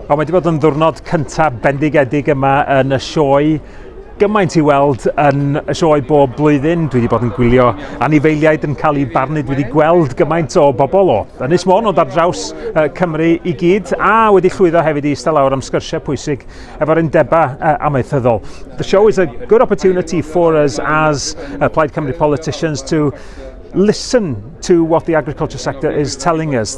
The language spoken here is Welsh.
O, mae wedi bod yn ddwrnod cyntaf bendigedig yma yn y sioe gymaint i weld yn y sioe bob blwyddyn. Dwi wedi bod yn gwylio anifeiliaid yn cael eu barnu. Dwi wedi gweld gymaint o bobl o Ynys Môn ond ar draws uh, Cymru i gyd a wedi llwyddo hefyd i eistedd lawr am sgyrsiau pwysig efo'r undebau uh, amaethyddol. The show is a good opportunity for us as uh, Plaid Cymru politicians to listen to what the agriculture sector is telling us.